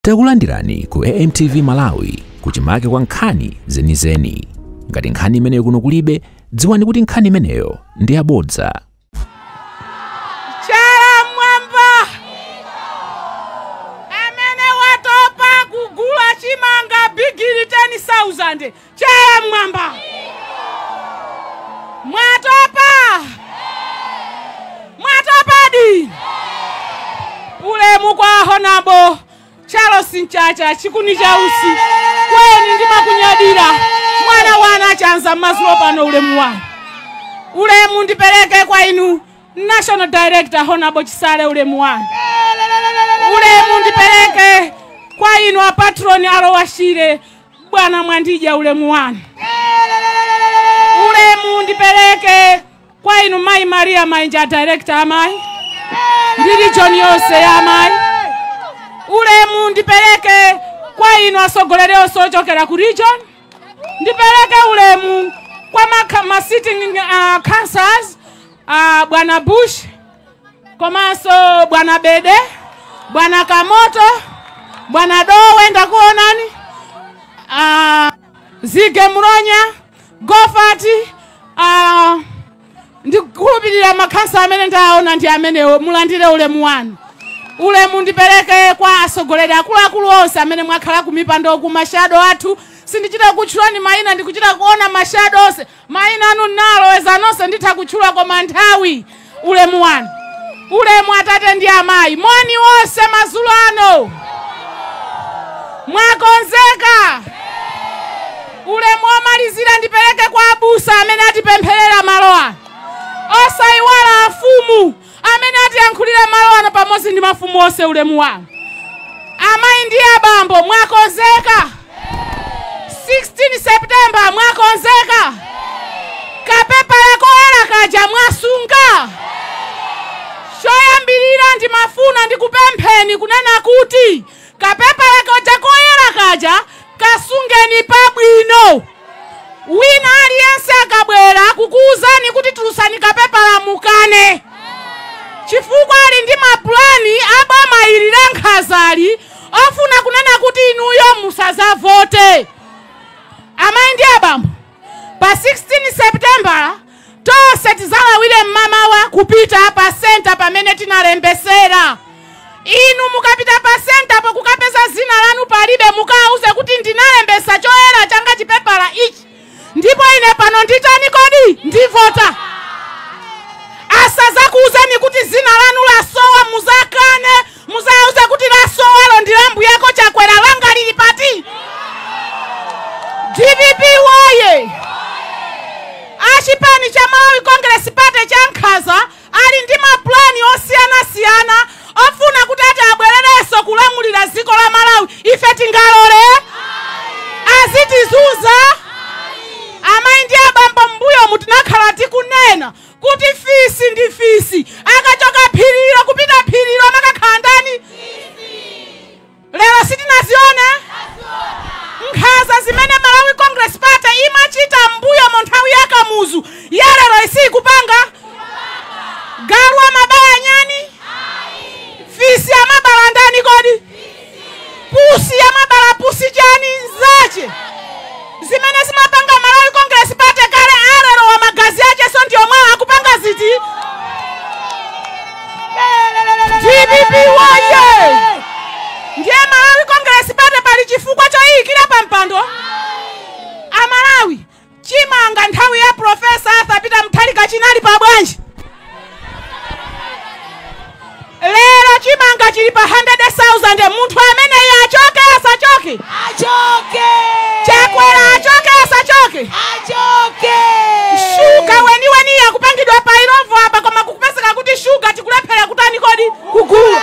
Takulandirani ku AMTV Malawi kuchimake kwa nkhani zenizeni. Ngati nkhani imeneyo kuno kulibe, dziwani kuti nkhani imeneyo ndi yabodza. Chala mwamba amene watopa kugula chimanga bigiri 10,000 Chala mmwamba! Mwatopa? Mwatopadi? Ulemu kwa Honabo Charles Mchacha chikuni cha usi kweni ndimakunyadira mwana wa Nachanza mazulo pano ulemu wanu ulemu ndipereke kwa inu national director honabo chisale ulemu wanu ulemu ndipereke kwa inu apatroni a Lower Shire Bwana Mwandidya, ulemu wanu, ulemu ndipeleke kwa inu mayi Maria Mainja, a director amayi ndi region yonse ya amayi. Ulemu ndipeleke kwa inu atsogoleri onse ochokera ku region, ndipeleke ulemu kwa ma, ma sitting uh, councillors uh, bwana Bush komanso bwana bede bwana kamoto bwana dowe ndakuonani uh, zige mronya gofati uh, ndikukhulupirira makhansala amene ndaona ndi amenewo mulandire ulemu wanu ulemu ndipereke kwa atsogoleri akuluakulu onse amene mwakhala kumipando ku mashado athu sindichita kutchulani mayina ndikuchita kuona mashado onse Maina anu ndaloweza nonse nditha kutchula koma nthawi ulemu wanu ulemu atate ndi amayi moni nonse madzulo ano mwakonzeka ulemu omalizira ndipereke kwa abusa amene atipempherera malo ano osayiwala afumu amene atiyankhulira malo ano pamodzi ndi mafumu onse ulemu wanu amayi ndi abambo mwakonzeka 16 september mwakonzeka kapepala koyela kaja mwasunga choyambirira ndimafuna ndikupempheni kunena kuti Kapepala kaja koyera kaja kasungeni pabwino. Wina aliyense akabwera kukuuzani kuti tulutsani kapepala mukane, chifukwa ali ndi mapulani a boma ili la nkhazali ofuna kunena kuti inuyo musadzavote. Amayi ndi abambo, pa 16 seputembala tonse tizalawire mmamawa kupita pa senta pamene tinalembesera inu mukapita pa sentapo kukapeza zina lanu palibe mukawauze kuti ndinalembesa choyera changa chipepala ichi ndipo ine pano nditani kodi ndivota asazakuuzeni kuti zina lanu lasowa muzakane Muzawauze kuti lasowalo ndi la mbuyako Chakwera, langa lili pati? Dpp woye! A chipani cha Malawi Congress Party cha nkhanza ali ndi mapulani osiyanasiyana ofuna kuti ati abwererenso kulamulira dziko la Malawi. Ife tingalole? Azitizunza? Amayi ndi abambo m'mbuyomu tinakhala tikunena kuti fisi ndi fisi akachoka phirilo kupita phirilo amakakhala ndani lero sitinazione nkhanza zimene malawi congress party imachita mbuyomu nthawi ya kamuzu ya lero siyikupanga galu amabala chiyani fisi amabala ndani kodi Pusi amabala pusi chani nzache zimene zimapanga Malawi Congress Party kale alero wa magazi ache so ndiyo mwawo akupanga ziti dpp woye ndiye Malawi Congress Party pali chifukwa choyiyikira pa mpando amalawi Chimanga nthawi ya Professor Arthur Peter Mutharika chinali pa bwanji? Lero chimanga chili pa 100,000 munthu ameneyo achoke asachoke? Achoke! Chakwera achoke asachoke? Achoke! Shuga weniweni akupangidwa pa Illovo apa koma kukupezeka kuti shuga tikulephera kutani kodi kugula.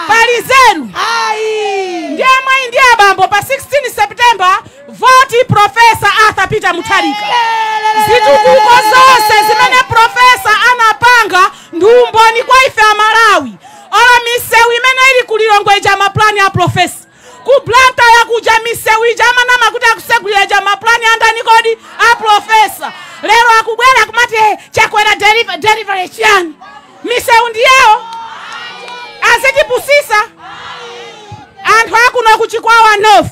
Pali nzeru? Ayi! Ndiye amayi ndi abambo pa 16 September Voti Prof. Arthur Peter Mutharika. Zitukuko zonse zimene Prof. anapanga ndi umboni kwa ife a Malawi. Olo misewu imene ili ku Lilongwe ija mapulani a Prof. Ku Blantyre kuja misewu ija akunama kuti akusegulira ija mapulani andani kodi a Prof. Lero akubwera kumati "Eh, chakwera deliver- deliver chiyani? Misewu ndi yawo azitipusisa anthu akuno ku Chikwawa North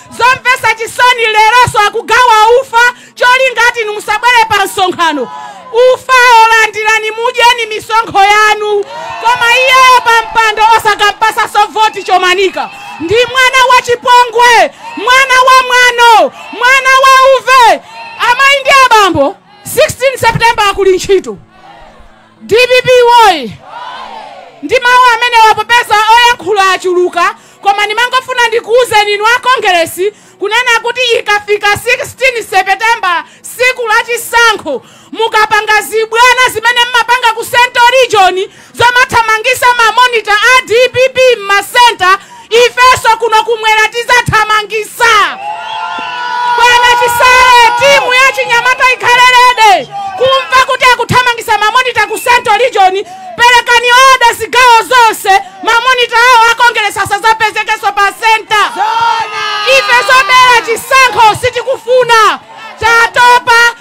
Zomvetsa chisoni leronso akugawa ufa cholinga ati inu musabwere pa msonkhano. Ufawo landirani mudyeni misonkho yanu, koma iyeyo pa mpando osakampatsanso voti Chomanika. Ndi mwana wa chipongwe, mwana wa mwano, mwana wa uve. Amayi ndi abambo 16 September kuli ntchito. Dpp woye! Ndi mau amenewa popeza oyankhula achuluka koma ndimangofuna ndikuuzeni inu a Kongeresi kunena kuti ikafika 16 September tsiku la chisankho mukapanga zibwana zimene mmapanga ku central region zomathamangisa ma monitor a dpp mma center ifeso kuno kumwera tizathamangisa bwana chisale timu ya chinyamata ikhale ready kumva kuti akuthamangisa mamonita ku central region perekani oda zigawo zonse mamonita awo akongeresi sazapezekeso pa senta ife zobera chisankho sitikufuna tatopa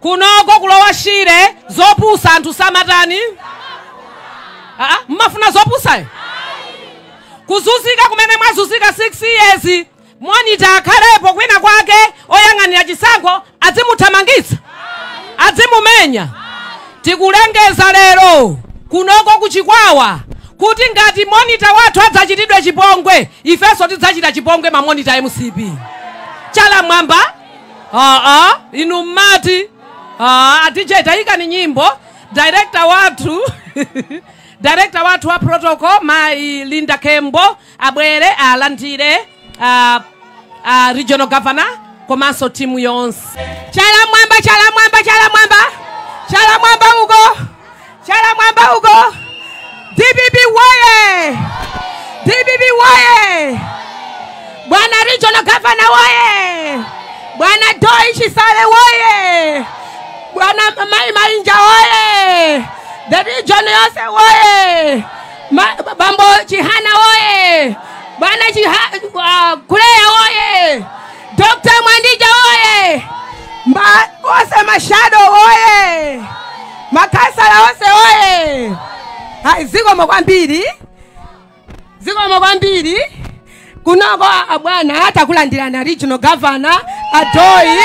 kunoko ku Lower Shire zopusitsa anthu samatani Aa, mmafuna zopusayo kuzunzika kumene mwazunzika 6 years monita akhalepo kwina kwake oyang'anira chisankho adzimuthamangitsa adzimumenya tikulengeza lero kunoko kuchikwawa kuti ngati monita wathu adzachitidwe chipongwe ifenso tidzachita chipongwe mamonita a mcp chala mmwamba aa inu mmati a dj taikani nyimbo director wathu director wathu wa protocol mayi linda kembo abwere alandire uh, uh, regional governor komanso timu yonse chala mwamba chala mwamba chala mwamba chala mwamba uko Chala mwamba uko. DPP woye! DPP woye! Bwana Regional Governor woye! Bwana Doi Chisale woye! Bwana Mainja woye! The region yose woye! Ma- Bambo Chihana woye! Bwana Chiha, uh, Kuleya woye! Dr. Mwandija oye! Onse mashado oye! Makhansala onse oye! Ayi zikomo kwambiri. Zikomo kwambiri. Kunoko abwana takulandirani a regional governor a Doyi.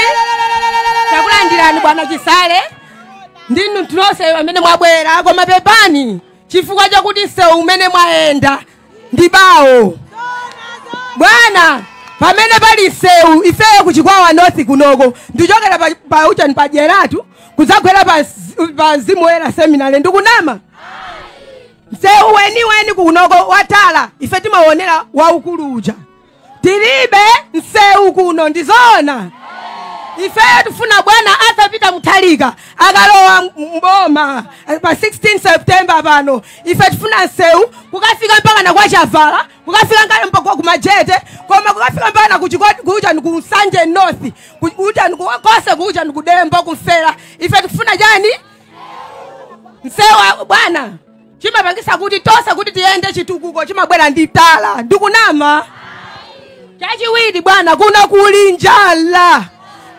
Takulandirani bwana Chisale. Ndi inu nonse amene mwabwera koma pepani chifukwa chakuti msewu umene mwayenda ndi bawo bwana pamene pali msewu ifeyo kuchikwawa north kunoko ndichokera pa- pa uchani pa Dyeratu kudzagwera pa mz- pa mzimu woyera seminary ndikunama msewu weniweni kunoko wa tala ife timaonera waukulu uja tilibe msewu kuno ndizoona ifeyo tifuna bwana Arthur Peter Mutharika akalowa mboma pa 16 september pano ife tifuna msewu kukafika mpakana kwa chavala kukafika ngale mpaka ku majete koma kukafika mpakana kuchikoti kuja ni ku nsanje north ku- kuja ni ku- konse kuja ni kudembo kumfera ife tifuna chani msewu wa- bwana chimapangitsa kuti tonse kuti tiyende chitukuko chimabwera ndi tara ndikunama chachiwiri bwana kuno kuli njala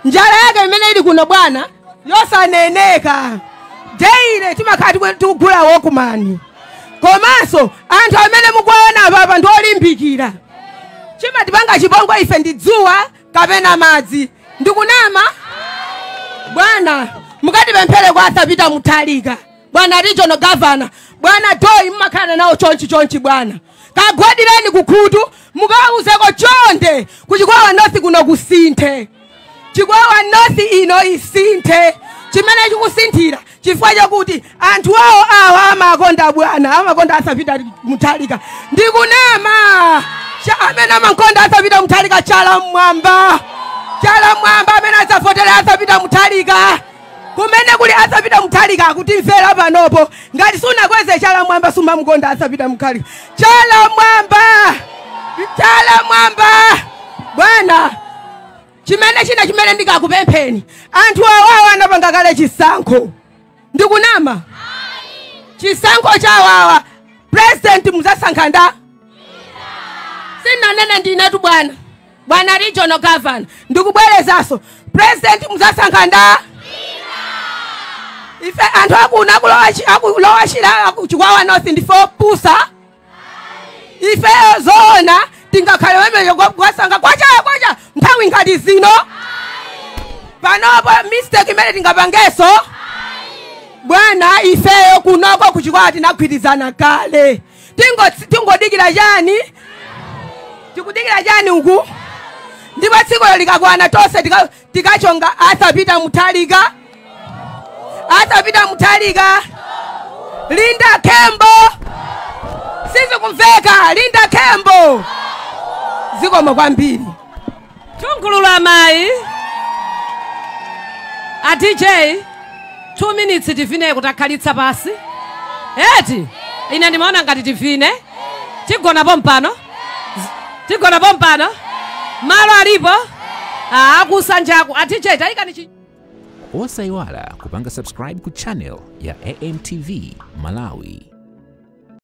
njala yake imene ili kuno bwana yosaneneka daily timakhala tikwe- tikugula walkman komanso anthu amene mukuwaona apapa ndi olimbikira chimatipanga chipongwe ife ndi dzuwa kapena madzi ndikunama bwana mukatipemphere kwa a Peter Mutharika bwana regional governor bwana doi mmakhala nawo chonchi chonchi bwana kagwadireni kukhutu mukawauzeko chonde kuchikwawa north kuno kusinthe chikwawa north ino isinthe chimene chikusinthira chifukwa chakuti anthu awa awa amakonda bwana amakonda a Peter Mutharika ndikunama Cha- amene amakonda a Peter Mutharika chala mmwamba chala mmwamba amene adzavotera a Peter Mutharika kumene kuli a Peter Mutharika akutimvera panopo ngati sunakweze chala mwamba sumamukonda a Peter Mutharika chala mwamba chala mwamba bwana chimene china chimene ndikakupempheni anthu awawa anapanga kale chisankho ndikunama chisankho chawawa president muzasankha ndani sinanene ndinetu bwana Bwana regional governor, ndikubwerezaso president muzasankha ndani ife anthu akuno aku Lower Shire akuchikwawa north ndife opusa ifeyo zoona tingakhale wemeyo kwasankha kwacha kwacha nthawi ngati zino panopo mistake imene tingapangeso bwana ifeyo kunoko kuchikwawa tinagwirizana kale Tingo- tingodikira chani tikudikira chani uku ndipo tsikulo likakwana tonse tika- tikachonga a Peter Mutharika a Peter Mutharika linda khembo sizikumveka linda khembo zikomo kwambiri Nthungululu amayi. A DJ, two minutes tivine kutakhalitsa pansi. Eti, ine ndimaona ngati tivine. Tigona pompano. Z- Tigona pompano. Malo alipo. Ah, akusanjaku. A DJ, tayikani chi. osayiwala kupanga subscribe ku channel ya amtv malawi